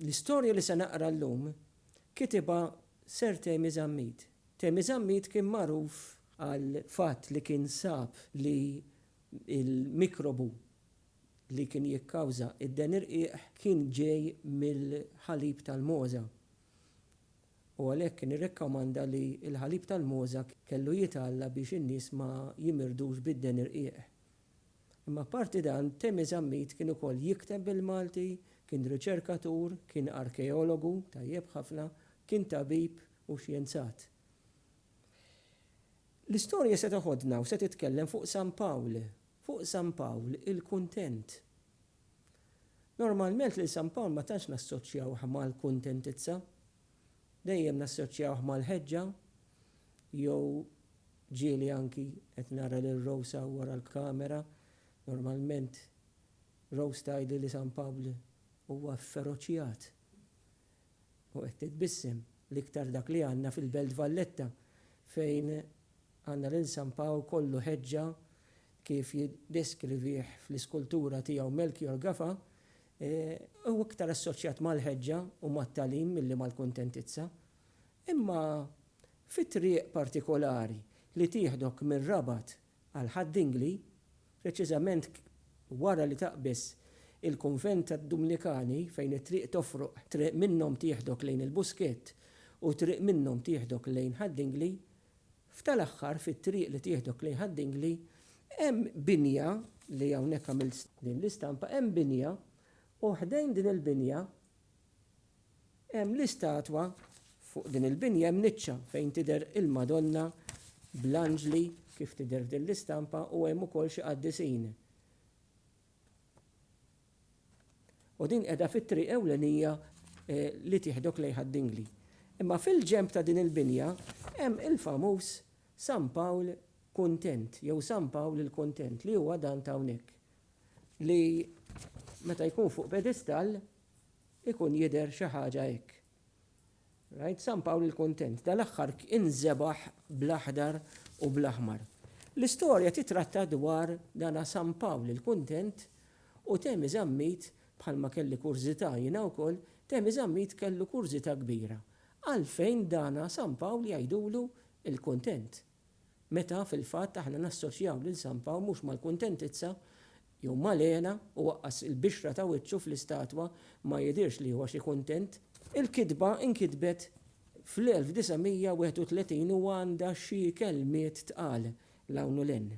L-istorja li se naqra llum kitibha Sir Temi Zammit. Temi Zammit kien magħruf għal fatt li kien sab li l-mikrobu li kien jikkawża d-denirqiq kien ġej mill-ħalib tal-mogħża u għalhekk kien irrekkomanda li l-ħalib tal-mogħża kellu jitgħalla biex in-nies ma jimirdux bid-denirqiq. Imma apparti dan, Temi Zammit kien ukoll jikteb bil-Malti, kien riċerkatur, kien arkeologu tajjeb ħafna, kien tabib u xjenzat. L-istorja se teħodna u se titkellem fuq San Pawl, fuq San Pawl il-kuntent. Normalment lil San Pawl ma tantx nassoċjawh mal-kuntentizza. dejjem nassoċjawh mal-ħeġġa jew ġieli anki qed nara lil Rose hawn wara l-kamera, normalment Rose tgħidli li San Pawl huwa fferoċjat u qed titbissem, l-iktar dak li għandna fil-Belt Valletta fejn għandna lil San Pawl kollu ħeġġa kif jiddeskrivih fl-iskultura tiegħu Melchior Gafa Hu iktar assoċjat mal-ħeġġa u mat-tagħlim milli mal-kuntentizza. Imma fi triq partikolari li tieħdok mir-Rabat għal Ħad Dingli, preċiżament wara li taqbeż il-kunvent tad-Dumnikani fejn it-triq tofroq, triq minnhom tieħdok lejn il-Buskett u triq minnhom tieħdok lejn Ħad Dingli, F'tal-aħħar, fit-triq li tieħdok lejn Ħad Dingli, hemm binja, li hawnhekk għamilt din l-istampa, hemm binja u ħdejn din il-binja hemm l-istatwa, fuq din il-binja hemm niċċa fejn tidher il-Madonna bl-anġli kif tidher f'din l-istampa u hemm ukoll xi qaddisin. U din qiegħda fit-triq ewlenija li tieħdok lejn Ħad Dingli. Imma fil-ġenb ta' din il-binja hemm il-famuż San Pawl Kuntent jew San Pawl il-Kuntent li huwa dan ta' hawnhekk li meta jkun fuq pedestall ikun jidher xi ħaġa hekk. Rajt San Pawl il-Kuntent dal-aħħar inżebaħ bl-aħdar u bl-aħmar. L-istorja titratta dwar dana San Pawl il-Kuntent u Temi Zammit, bħalma kelli kurżità jiena wkoll, Temi Zammit kellu kurżità kbira, għalfejn dana San Pawl jgħidulu l-Kuntent. meta fil-fatt aħna nassoċjaw lil San Pawl mhux mal-kuntentizza jew mal-hena u waqqas il-bixra ta' wiċċu fl-istatwa ma jidhirx li huwa xi kuntent. Il-kitba nkitbet fl-1931 u għandha xi kelmiet tqal 'l hawn u 'l hinn.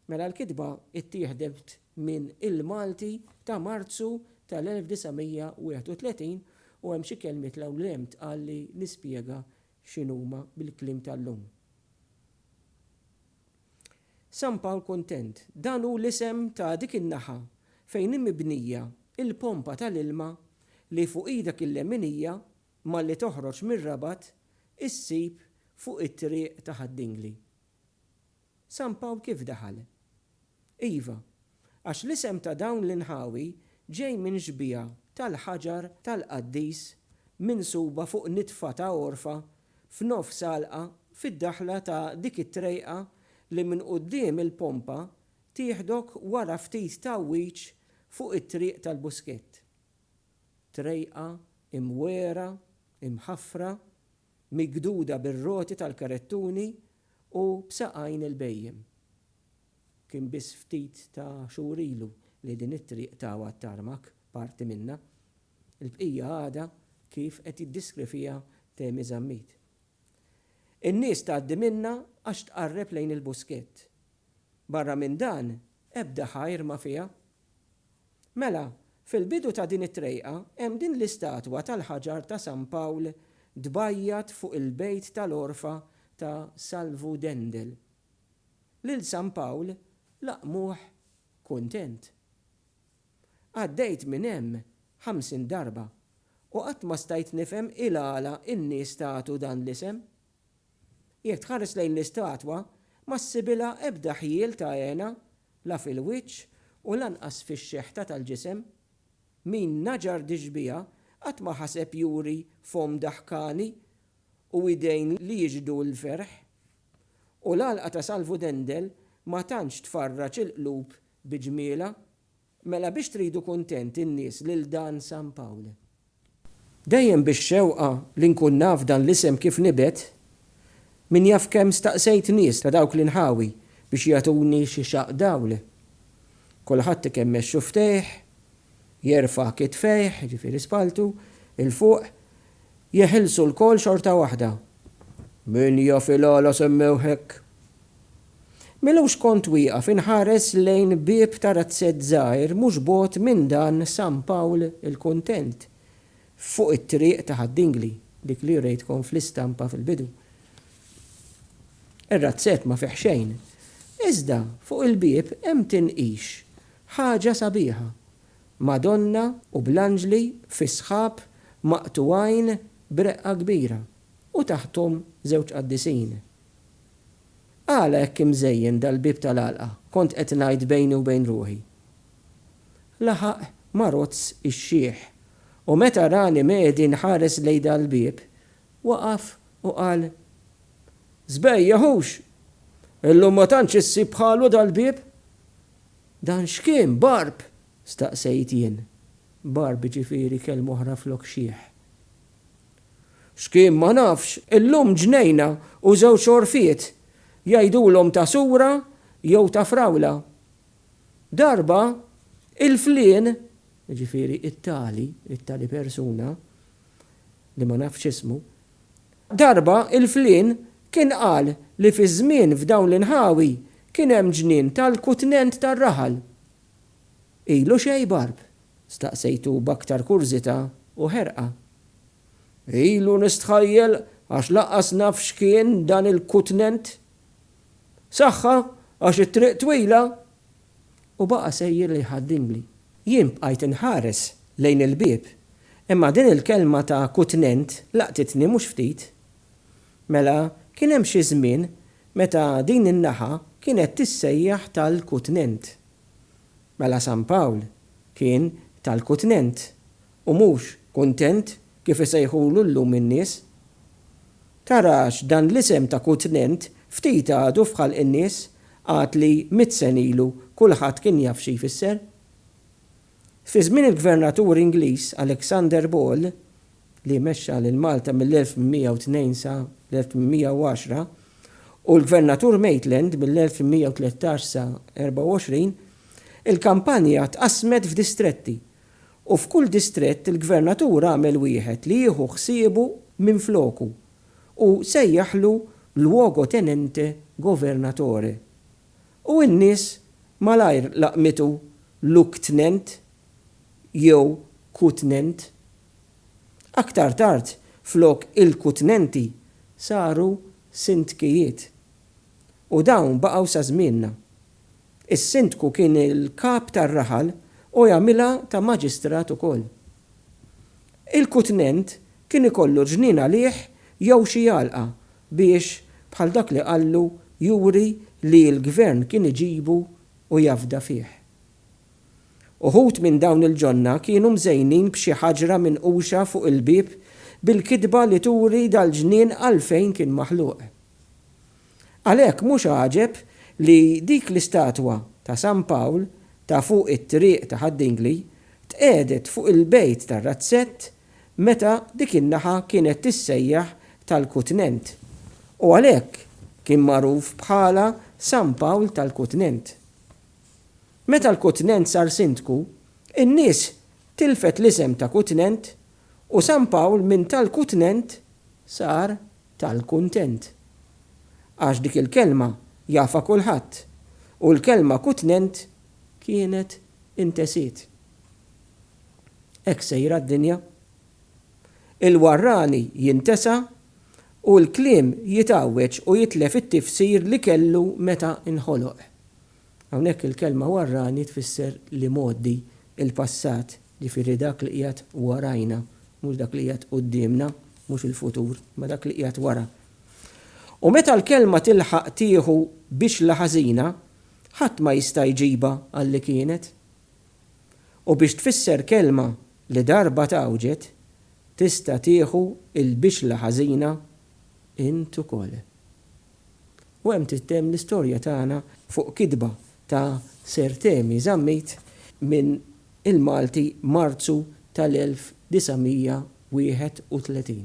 Mela l-kitba ttieħdet minn Il-Malti ta' Marzu tal-1931 u hemm xi kelmiet 'l hawn u 'l hemm tqal li nispjega x'inhuma bil-kliem tal-lum. San Pawl Kuntent, dan hu l-isem ta' dik in-naħa fejn hi mibnija l-pompa tal-ilma li fuq idek il-leminija malli toħroġ mir-Rabat issib fuq it-triq ta' Ħad-Dingli. San Pawl kif daħal? Iva, għax l-isem ta' dawn l-inħawi ġej minn xbieha tal-ħaġar tal-qaddis minsuba fuq nitfa ta' għorfa f'nofs għalqa fid-daħla ta' dik it-trejqa li minn quddiem il-pompa tieħdok wara ftit tgħawwiġ fuq it-triq tal-Buskett. Trejqa imwegħra, imħaffra, migduda bir-roti tal-karettuni u b'saqajn il-bhejjem. Kien biss ftit ta' xhur ilu li din it-triq tawa t-tarmak, parti minnha. Il-bqija għadha kif qed jiddiskrivhiha Temi Zammit. In-nies tgħaddi minnha għax tqarreb lejn il-Buskett. Barra minn dan, ebda ħajr ma fiha. Mela, fil-bidu ta' din it-trejqa hemm din l-istatwa tal-ħaġar ta' San Pawl tbajjat fuq il-bejt tal-għorfa ta' Salvu Dendel. Lil San Pawl laqqmuh kuntent. Għaddejt minn hemm ħamsin darba u qatt ma stajt nifhem il-għala n-nies tagħtu dan l-isem. Jekk tħares lejn l-istatwa, ma ssibilha ebda ħjiel ta' hena, la fil-wiċċ u lanqas fix-xeħta tal-ġisem. Min naġar dixbiha qatt ma ħaseb juri fomm daħkani u idejn li jixhdu l-ferħ. U l-għalqa ta' Salvu Dendel ma tantx tfarraġ il-qlub bi ġmielha. Mela biex tridu kuntent in-nies lil dan San Pawl. Dejjem bix-xewqa li nkun naf dan l-isem kif nibet, min jaf kemm staqsejt nies ta' dawk l-inħawi biex jagħtuni xi xaqq dawl. Kulħadd ikemm mexxu ftejh, jerfa' kitfejh, jiġifieri spalltu, 'il fuq, jeħilsu lkoll xorta waħda. Min jaf il-għala semmewh hekk? Milux kont wieqaf inħares lejn bieb ta' razzett żgħir mhux bogħod minn dan San Pawl il-Kuntent, fuq it-triq ta' Ħad-Dingli, dik li wrejtkom fl-istampa fil-bidu. Ir-razzett ma fih xejn, iżda fuq il-bieb hemm tinqix, ħaġa sabiħa, Madonna u bl-anġli fis-sħab maqtugħin b'reqqa kbira, u taħthom żewġ qaddisin. Għala hekk imżejjen dal-bieb tal-għalqa, kont qed ngħid bejni u bejn ruħi. Laħaq Marozz ix-xiħ u meta rani medi nħares lejn dal-bieb, waqaf u qal, Żbejjeh hux! Illum ma tantx issib bħalu dal-bieb! Dan x'kien, Barb? staqsejt jien. Barb ġifieri kelma oħra flok xiħ. X'kien ma nafx, illum ġnejna u żewġ għorfiet jgħidulhom ta' sura jew ta' frawla. Darba, il-flien, jiġifieri it-tali, it-tali persuna, li ma nafx ismu, darba il-flien kien qal li fiż-żmien f'dawn l-inħawi kien hemm ġnien tal-kutnent tar-raħal. Ilu xejn Barb? staqsejtu b'aktar kurżità u ħerqa. Ilu nistħajjel għax lanqas naf x'kien dan il-kutnent. Saħħa għax it-triq twila! U baqa' sejjer jħaddimli. Jien bqajt inħares lejn il-bieb, imma din il-kelma ta' kutnent laqtitni mhux ftit. Mela kien hemm xi żmien meta din in-naħa kienet tissejjaħ tal-kutnent. Mela San Pawl kien tal-kutnent u mhux kuntent kif isejħulu llum in-nies? Tara għax dan l-isem ta' kutnent ftit għadu f'ħalq in-nies għad li mitt sen ilu kulħadd kien jaf xi jfisser. Fi żmien il-Gvernatur Ingliż Alexander Ball, li mexxa lil Malta mill-1802 sa l-1810, u l-Gvernatur Maitland mill-1813 sa 24, il-kampanja tqassmet f'distretti, u f'kull distrett il-Gvernatur għamel wieħed li jieħu ħsiebu minfloku, u sejjaħlu luogotenente governatore. u n-nies malajr laqmitu Lugtnent jew Kutnent. Aktar tard flok il-Kutnenti saru Sindkijiet. U dawn baqgħu sa żmienna. Is-Sindku kien il-kap tar-raħal u jagħmilha ta' Maġistrat ukoll. Il-Kutnent kien ikollu ġnien għalih jew xi għalqa biex, bħal dak li qallu, juri li l-Gvern kien iġibu u jafda fih. Uħud minn dawn il-ġonna kienu mżejnin b'xi ħaġra minquxa fuq il-bieb bil-kitba li turi dal-ġnien għalfejn kien maħluq. Għalhekk mhux għaġeb li dik l-istatwa ta' San Pawl ta' fuq it-Triq ta' Ħad-Dingli tqiegħdet fuq il-bejt tar-razzett meta dik in-naħa kienet tissejjaħ tal-Kutnent, u għalhekk kien magħruf bħala San Pawl tal-Kutnent. Meta l-Kutnent sar sindku, in-nies tilfet l-isem ta' Kutnent u San Pawl minn tal-Kutnent sar tal-Kuntent. Għax dik il-kelma jafha kulħadd u l-kelma Kutnent kienet intesiet. Hekk sejra d-dinja. Il-warrani jintesa u l-kliem jitgħawweġ u jitlef it-tifsir li kellu meta nħoloq. Hawnhekk il-kelma warrani tfisser l-imgħoddi, il-passat, jiġifieri dak li qiegħed warajna, mhux dak li qiegħed quddiemna, mhux il-futur, imma dak li qiegħed wara. U meta l-kelma tilħaq tieħu bixla ħażina, ħadd ma jista' jġibha għal li kienet. u biex tfisser kelma li darba tgħawġet tista' tieħu l-bixla ħażina int ukoll. U hemm tittemm l-istorja tagħna fuq kitba ta' Sir Temi Zammit minn Il-Malti Marzu tal-1931.